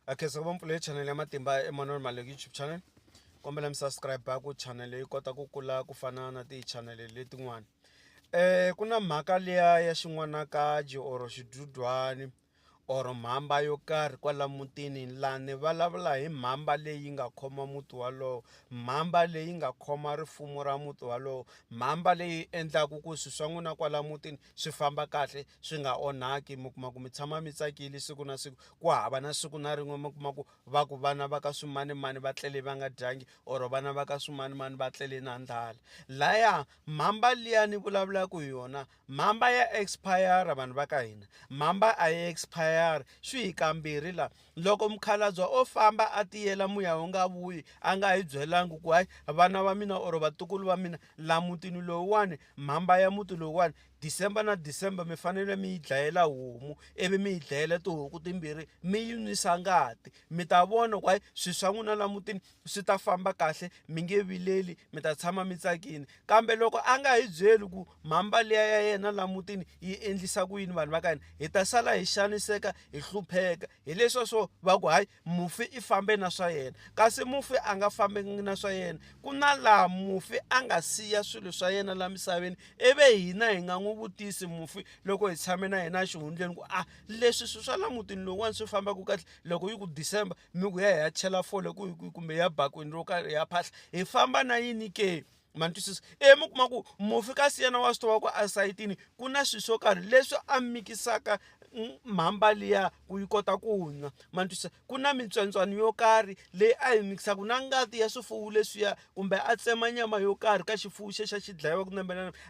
a khensa ku va mpfula ya channel ya matimba Emmanuel Maleki YouTube channel kombela mi subscribe ku channel yi kota ku kula ku fana na ti-channel letin'wana eh ku na mhaka liya ya xin'wanakaji or xidudwani or mhamba yo karhi kwala mutini laha ni vulavula hi mhamba leyi nga khoma muti walowo mhamba leyi nga khoma rifumo ra muti walowo mhamba leyi endlaku ku swi swa n'wina kwala mutini. swi famba kahle swi nga onhaki mi kuma ku mi tshama mi tsakile siku na siku ku hava na siku na rin'we mi kuma ku va ku vana va ka swimanimani va tlele va nga dyangi or vana va ka swimanimani va tlele na ndlala laya mhamba liya ni vulavulaka hi yona mhamba ya expire vanhu va ka hina mhamba a yi expire swi hi kambirhi laha Loko mukhalabya o famba a tiyela muya wu nga vuyi a nga hi byelanga ku hayi vana va mina or vatukulu va mina la mutini lowuwani mhamba ya muti lowuwani December na December mi fanele mi yi dlayela homu ivi mi yi dlayela tihuku timbirhi mi yi nwisa ngati mi ta vona ku hayi swi swa n'wina la mutini swi ta famba kahle mi nge vileli mi ta tshama mi tsakile kambe loko a nga hi byeli ku mhamba liya ya yena la mutini yi endlisa ku yini vanhu va ka hina hi ta sala hi xaniseka hi hlupheka hi leswa swo va ku hayi mufi i fambe na swa yena kasi mufi a nga fambi na swa yena ku na laha mufi a nga siya swilo swa yena la misaveni ivi hina hi nga n'wi vutisi mufi loko hi tshame na yena exihundleni ku a leswi swi swa la mutini lowuwani swi fambaka kahle loko yi ku december mi ku ya hi ya chela fole ku kumbe ya bakwini ro karhi ya phahla hi famba na yini ke ma ni twisisa e mi kuma ku mufi ka siyena wa swi tiva ku esayitini ku na swilo swo karhi leswi a mikisaka mhamba liya ku yi kota ku nwa ma ni twisisa ku na mitswentswana yo karhi leyi a yi mikisaka na ngati ya swifuwo leswiya kumbe a tsema nyama yo karhi ka xifuwo xexa xi dlayiwa ku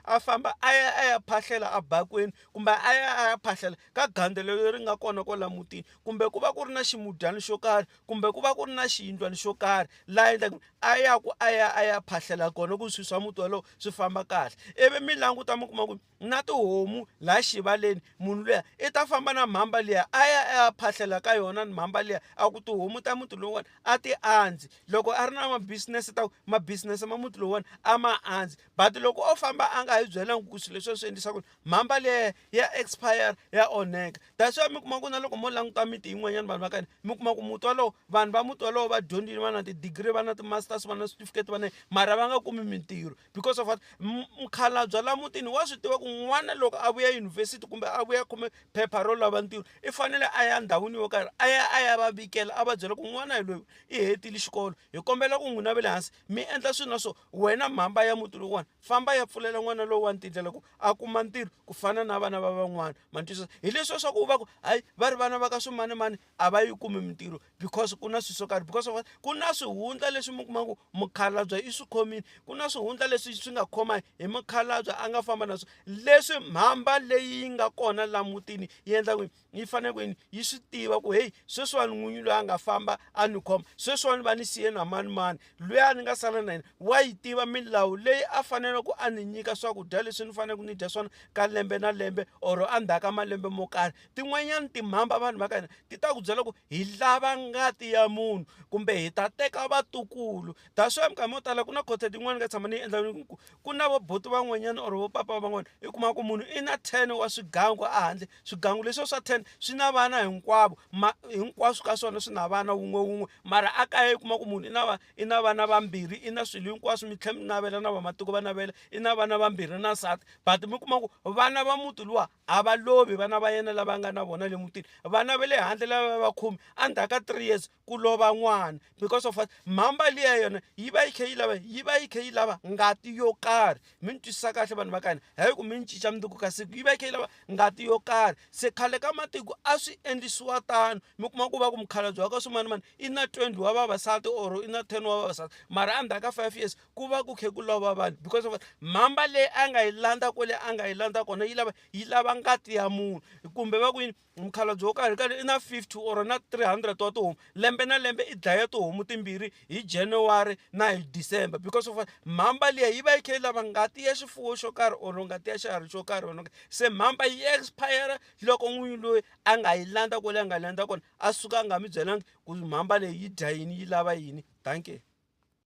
a famba a ya a ya phahlela a bakweni kumbe a ya a ya phahlela ka gandzelo leri nga kona kwala mutini kumbe ku va ku ri na ximudyani xo karhi kumbe ku va ku ri na xiyindlwani xo karhi laha endlaku a ya ku a ya a ya phahlela kona ku swi swa muti walowo swi famba kahle ivi mi languta mi kuma ku na tihomu laha xivaleni munhu luya i ta famba na mhamba liya a ya a ya phahlela ka yona ni mhamba liya a ku tihomu ta muti lowuwani a ti andzi loko a ri na mabisinesi ta ku mabisinesi ma muti lowuwani a ma andzi but loko o famba a nga hi byelangi ku swilo leswi a swi endlisa ku mhamba liya ya expire ya onheka that's why mi kuma ku na loko mo languta miti yin'wanyana vanhu va ka hina mi kuma ku muti wolowo vanhu va muti wolowo va dyondzile va na ti-degree va na ti-masters va na switifiketi va na mara va nga kumi mintirho because of what mukhalabye la mutini wa swi tiva ku n'wana loko a vuya yunivhesiti kumbe a vuya khome phepha ro lava ntirho i fanele a ya ndhawini yo karhi a ya a ya va vikela a va byela ku n'wana hi loyi i hetile xikolo hi kombela ku n'wina ve le hansi mi endla swilo na swo Wena mhamba ya muti lowuwani famba ya pfulela n'wana lowuwani tindlela ku a kuma ntirho ku fana na vana va van'wana ma ni twisisa hileswi swa ku va ku hayi va ri vana va ka swimanimani a va yi kumi mintirho because ku na swilo swo karhi because of ku na swihundla leswi mi kuma ku mukhalabye i swi khomile ku na swihundla leswi swi nga khoma hi mukhalabye a nga famba na swona leswi mhamba leyi yi nga kona laha mutini yi endla ku yini yi fanele ku yini yi swi tiva ku heyi sweswiwani n'winyi loyi a nga famba a ni khoma sweswiwani va ni siye na manimani loyi a ni nga sala na yena wa yi tiva milawu leyi a fanele ku a ni nyika swakudya leswi ni faneleke ni dya swona ka lembe na lembe or endzhaku ka malembe mo karhi tin'wanyani timhamba vanhu va ka hina ti ta ku byela ku hi lava ngati ya munhu kumbe hi ta teka vatukulu that's why minkarhi mo tala ku na khothe tin'wani ka tshama ni yi endla ku ku na vo buti van'wanyana or vo papa van'wana i kuma ku munhu i na ten wa swigangu a handle swigangu leswiya swa ten swi na vana hinkwavo ma hinkwaswo ka swona swi na vana wun'we wun'we mara a kaya i kuma ku munhu i na va i na vana vambirhi i na swilo hinkwaswo mi tlhela mi navela na vamatiko va navela i na vana vambirhi na nsati but mi kuma ku vana va muti luwa a va lovi vana va yena lava nga na vona le mutini vana va le handle lava va khume endzhaku ka three years ku lova n'wana because of what mhamba liya yona yi va yi kha yi lava yi va yi kha yi lava ngati yo karhi mi ni twisisa kahle vanhu va ka hina hayi ku mi ni cinca mundzuku ka siku yi va yi kha yi lava ngati yo karhi se khale ka matiko a swi endlisiwa tano mi kuma ku va ku mukhalabye wa ka swimanimani i na twenty wa vavasati or i na ten wa vavasati mara endzhaku ka five years ku va ku khe ku lova vanhu because of mhamba leyi a nga yi landza kwale a nga yi landza kona yi lava yi lava ngati ya munhu kumbe va ku yini Mukhalabye wo karhi karhi i na 50 or na 300 wa tihomu lembe na lembe i dlaya tihomu timbirhi hi January na hi December because of mhamba liya yi va yi kha yi lava ngati ya xifuwo xo karhi or ngati ya xiharhi xo karhi or se mhamba yi expire loko n'winyi loyi a nga yi landza kwale a nga landza kona a suka a nga mi byelanga ku mhamba leyi yi dya yini yi lava yini dankie